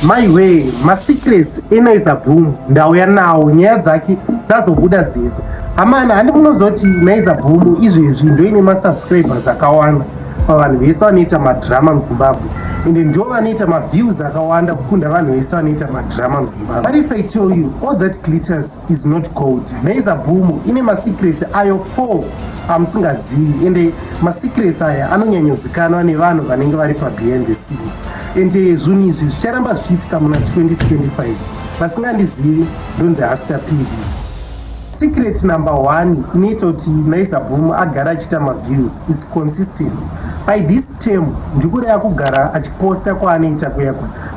maiwee masecrets enaiza boom ndauya nawo nyaya dzake dzazobuda dzese amana handi munozoti naiza boom izvezvi ndoine masubscribers akawanda pavanhu vese vanoita madrama muzimbabwe ende ndo vanoita maviews akawanda kukunda vanhu vese vanoita madrama muzimbabwe but if i tell you all that glitters is not cold maiza bhumu ine masecrets ayo four amusingazivi ende masecrets aya anonyanyozikanwa nevanhu vanenge vari pabehind the scenes ende zvinhu izvi zvicharamba zvichiitika muna 2025 vasingandizivi ndonzi hasta pv secret number one inoita kuti maiza bhumu agara achiita maviews its consistent by this Temu ndikureya kugara achiposta kwaanoita kuya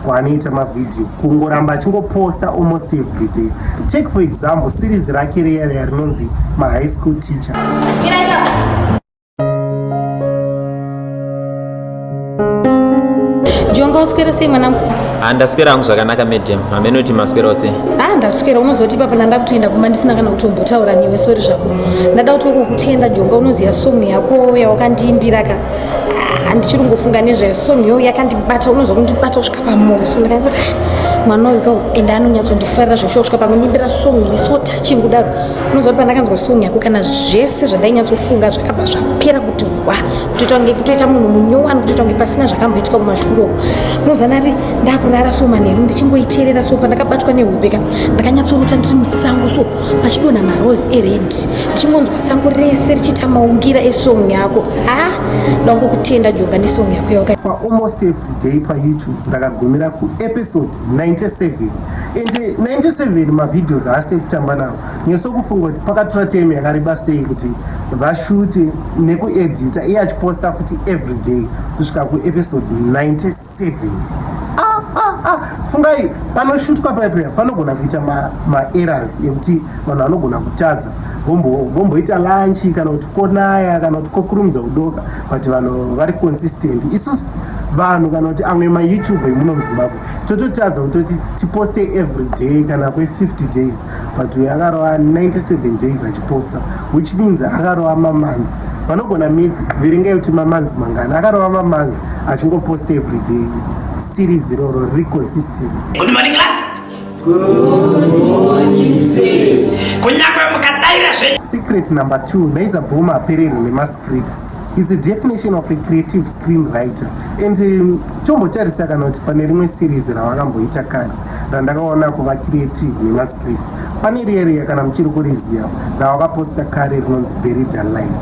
kwaanoita mavhidhiyo kungoramba achingoposta almost every day take for example series rake reya reya rinonzi mahigh school teacher jonga uswera sei mwanangu ha ah, ndaswera hangu zvakanaka madam hameno kuti maswerawo sei ha ah, ndaswera unozoti ipapo ndanda kutoenda kumba ndisina kana kutombotaura newe sori zvako ndada kuti wokokutenda jonga unoziva song yako yawakandiimbira ka handichiri kungofunga nezvayo so nyoyo yakandibata unonzwa kundibata kusvika pamoyo so ndakanzi kuti ah, mwana uyu kau ende anonyatsondifarira zvekushua kusvika pakunyimbira song iri so touching kudaro unonzwa kuti pandakanzwa song yako kana zvese zvandainyasofunga zvakabva zvapera kuti wa kutoita kunge kutoita munhu munyowani kutoita kunge pasina zvakamboitika kumashuro unonzwa ndati ndakurara so manheru ndichingoiteerera so pandakabatwa nehope ka ndakanyatsorota ndiri musango so pachidonha marose ered ndichingonzwa sango rese richiita maungira esong yako ha ndaunge kutenda jonga nesong yako yawaka pa almost every day payoutube ndakagumira kuepisode 97 and 97 mavideos aasi ekutamba nawo nyesokufunga kuti pakatora time yakareba sei kuti vashute nekuedita iye achiposta futi every day kusvika kuepisode 97 CV. Ah, ah, ah. Fungai panoshutwa paipe panogona kuita maerrors ma ekuti vanhu vanogona kutadza vomboita lanchi kana kuti konaya kana kuti kokurumidza kudoka but vanhu vari consistent isusu vanhu kana kuti amwe mayoutube emuno muzimbabwe tototadza kutoti tiposte every day kana kwe 50 days but uyu akarova 97 days achiposta which means akarova mamanzi vanogona midzi viringai kuti mamanzi mangani akarova mamanzi achingoposta everyday series iroro riri consistent Good morning, class. Kunyangwe mukadaira zvenyu secret number two naiza bhoma apererwe nemascripts is a definition of a creative screen writer and um, tombotarisa kana kuti pane rimwe series ravakamboita kare randakaona kuva creative nemascript pane rieriya kana muchiri kuriziva ravakaposta kare rinonzi berida life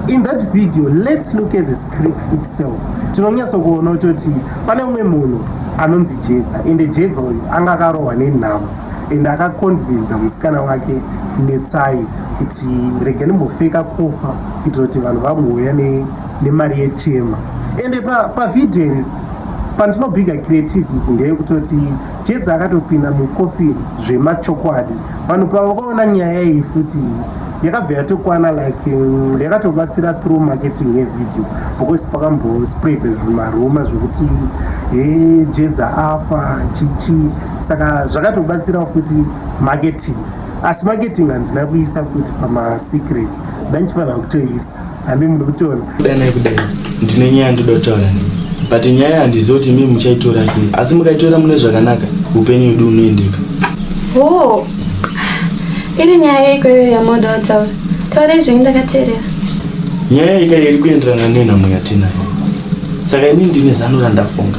in that video let's look at the script itself tinonyatsa kuona kutoti pane umwe munhu anonzi jedza ende jedza uyu anga akarohwa nenhamo ende akakonvinza musikana wake netsai kuti rega ndimbofeka kufa kuitira kuti vanhu vamouya nemari yechema ende pavhidhiyo iri pandinobhiga creativities ndeyekutoti jedza akatopinda mukofi zvemachokwadi vanhu pavakaona nyaya iyi futi yakabva yatokwana like mm, yakatobatsira through marketing yevideo because pakambospread zvimaruma zvekuti he jedza afa chichi saka zvakatobatsirawo futi marketing asi marketing handina kuisa futi pamasecrets ndandichifanira kutoisa hame muri kutona kudanai kudai ndine nyaya ndoda kutaura nei but nyaya handizivi kuti mii muchaitora sei asi mukaitora mune zvakanaka upenyu wedu unoendeka ho iri nyaya yeiko iyoyo yamoda kutaura taurai zvenyu ndakateerera nyaya ika iri kuenderana nenhamo yatinayo saka ini ndine zano randafunga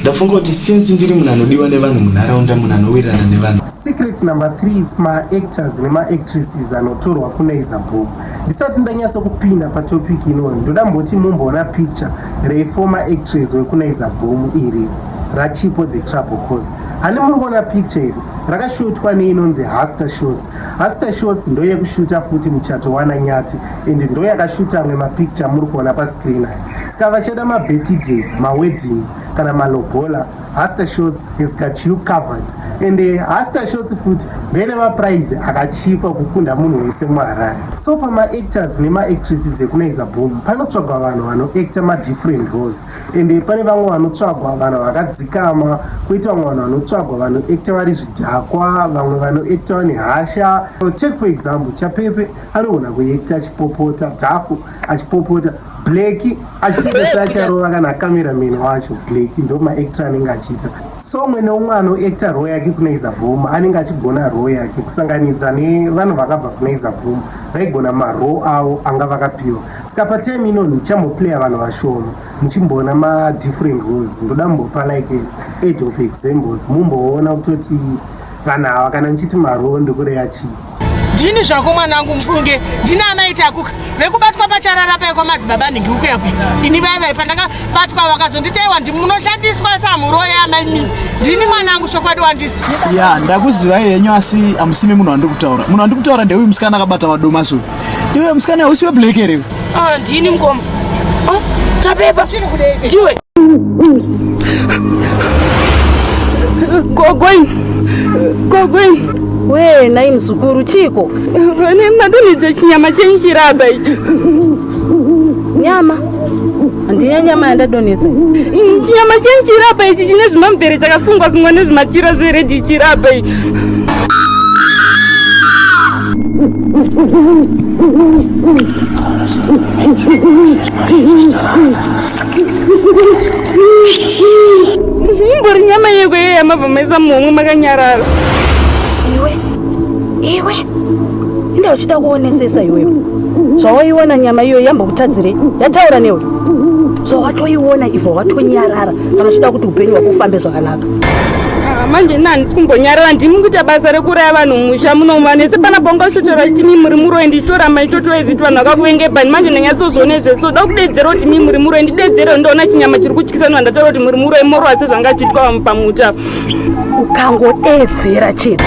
ndafunga kuti since ndiri munhu anodiwa nevanhu munharaunda munhu anowirirana nevanhu Secret number 3 it's ma actors nema actresses anotorwa kunaiza book. Ndisati ndanyasa kupinda pa topic ino ndoda mboti mumboona picture re former actress wekunaiza boom iri rachipo the trouble cause hani muri kuona picture iri rakashutwa neinonzi haster shots haster shots ndo yekushuta futi muchato wana nyati and ndo yakashuta amwe mapicture muri kuona pascreen aya saka vachada mabirthday mawedding kana malobola Hasta Shorts has got you covered and uh, Hasta Shorts futi vene maprize akachipa kukunda munhu wese muharare so pamaactors nemaactresses ekunaiza boom panotsvagwa vanhu vanoacta madifferent roles and uh, pane vamwe vanotsvagwa vanhu vakadzikama koita vamwe vanhu vanotsvagwa vanoacta vari zvidhakwa vamwe vanoacta vane hasha take for example chapepe anogona kuacta achipopota dhafu achipopota blaki achitengesa acharova kana cameraman wacho blaki ndo maactor anenge achiita so umwe neumwe anoacta roo yake kuna izabhoma anenge achigona roo yake kusanganidza nevanhu vakabva kuna izabhoma vaigona maroo avo anga vakapiwa saka patime ino ndichamoplaya vanhu vashoma muchimboona madifferent roes ndoda mumbopa like age of examples mumboona kutoti vanhu ava kana ndichiti maroo ndikureya chii ndini zvako mwanangu mufunge ndini anaiti akuka vekubatwa pacharara paye kwamadzibaba nhingi uko yakwe ini vaye vaye pandakabatwa vakazonditaiwa ndi munoshandiswa samuroyi amaimi ndini mwanangu chokwadi wandisi ya ndakuziva yenyu asi amusime munhu wandiri kutaura munhu wandiri kutaura ndeuyu musikana akabata vadomasuyu iwe musikana usiwe black here Ah, ndini mukoma. Ah, Tapepa. Ndiwe. Gogweni. Gogweni. We, nai mzukuru chiko. Vane madonedza chinyama chenyu chiraba icho. Nyama. Ndiye nyama yandadonedza. Mm, chinyama chenyu chiraba ichi chine zvimambere chakasungwa sungwa nezvimachira zveredhi chiraba ichi. mumbori nyama yeko iye yamabva maisa muhomwe makanyarara iwe iwe inda uchida kuonesesa iweyo zvawaiona nyama iyoyo yambokutadzirei yataura newe zvawatoiona ivo watonyarara kana uchida kuti upenyu hwako ufambe zvakanaka Ah, manje ini handisi kumbonyarara ndimi kuita basa rekuraya vanhu mumusha munomu vanhu vese pana bonga zvitotaura kuti mi muri muroi ndichitoramba ndichitotoedzi ti vanhu vakakuvengebani manje ndanyatsozoone zvese so da kudedzera kuti mi muri muroi ndidedzere ndoona chinyama chiri kutyisa nhu vandataura kuti muri muroi morova sezvanga achiitwa vamwe pamuta ukangodeedzera chete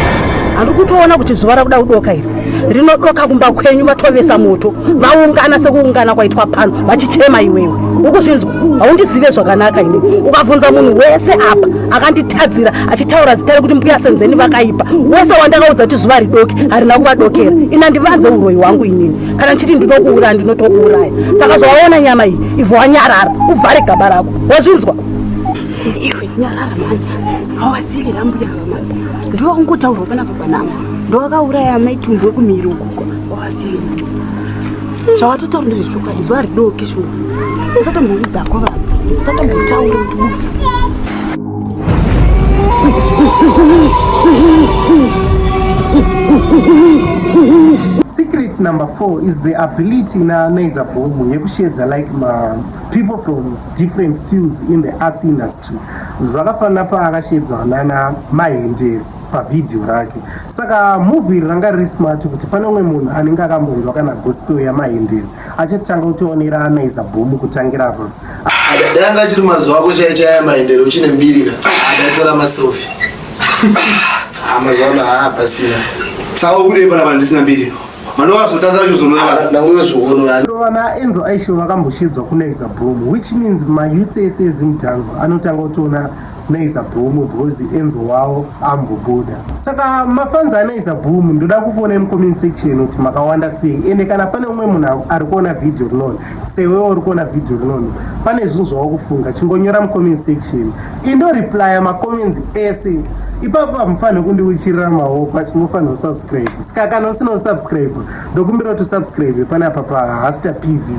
handi kutoona kuti zuva rakuda kudoka iri rinodoka kumba kwenyu vatovesa moto vaungana sekuungana kwaitwa pano vachichema iwewe ukuzvinzwa haundizive zvakanaka ini ukabvunza munhu wese apa akanditadzira achitaura zita rekuti mbuya senzeni vakaipa wese wandakaudza kuti zuva ridoki harina kuvadokera ina ndivanze uroyi wangu inini kana ndichiti ndinokuuraya ndinotokuuraya saka zvawaona nyama iyi ivho wanyarara uvhare gaba rako wazvinzwa iwe nyarara mani hawazivi rambuya ndiwo ungotaurwa panapa Mwanangu, ndowakauraya amai Tumbu wekumhiri ukoko wawasiya. Zvawatotaura ndezvechokwadi zuva ridoki shuwa. Usatomboudza ko vanhu. Usatombotaura kuti bufu. Secret number four is the ability na Naiza Bobu yekushedza like ma people from different fields in the arts industry. Zvakafanana paakashedzwa nana Mahendere. pavhidhiyo rake saka muvhi iri ranga riri smart kuti pane umwe munhu anenge akambonzwa kana gospel yamahindiri achatanga kutionera anaiza bhomu kutangira pa adada anga achiri mazuva ako chaichaya maendere uchine mbirika adatora masofi ah, mazuva ano haa pasina saka ukudei pana vanhu ndisina mbiri vana enzo aisho vakamboshidzwa kunaiza bhomu which means mayouth ese ezimutanzwa anotanga kutiona Naiza Boom because Enzo wao ambobuda. Saka mafans anaiza Boom ndoda kukuona mu comment section kuti makawanda sei ende kana pane umwe munhu ari kuona video rinono sewewo uri kuona video rinono pane zvinhu zvawakufunga chingonyora mu comment section indo replya ma comments ese ipapo hamufanire kundiuchirira maoko asi munofanira kusubscribe saka kana usina kusubscribe ndokumbira kuti usubscribe panapa pa hasta pv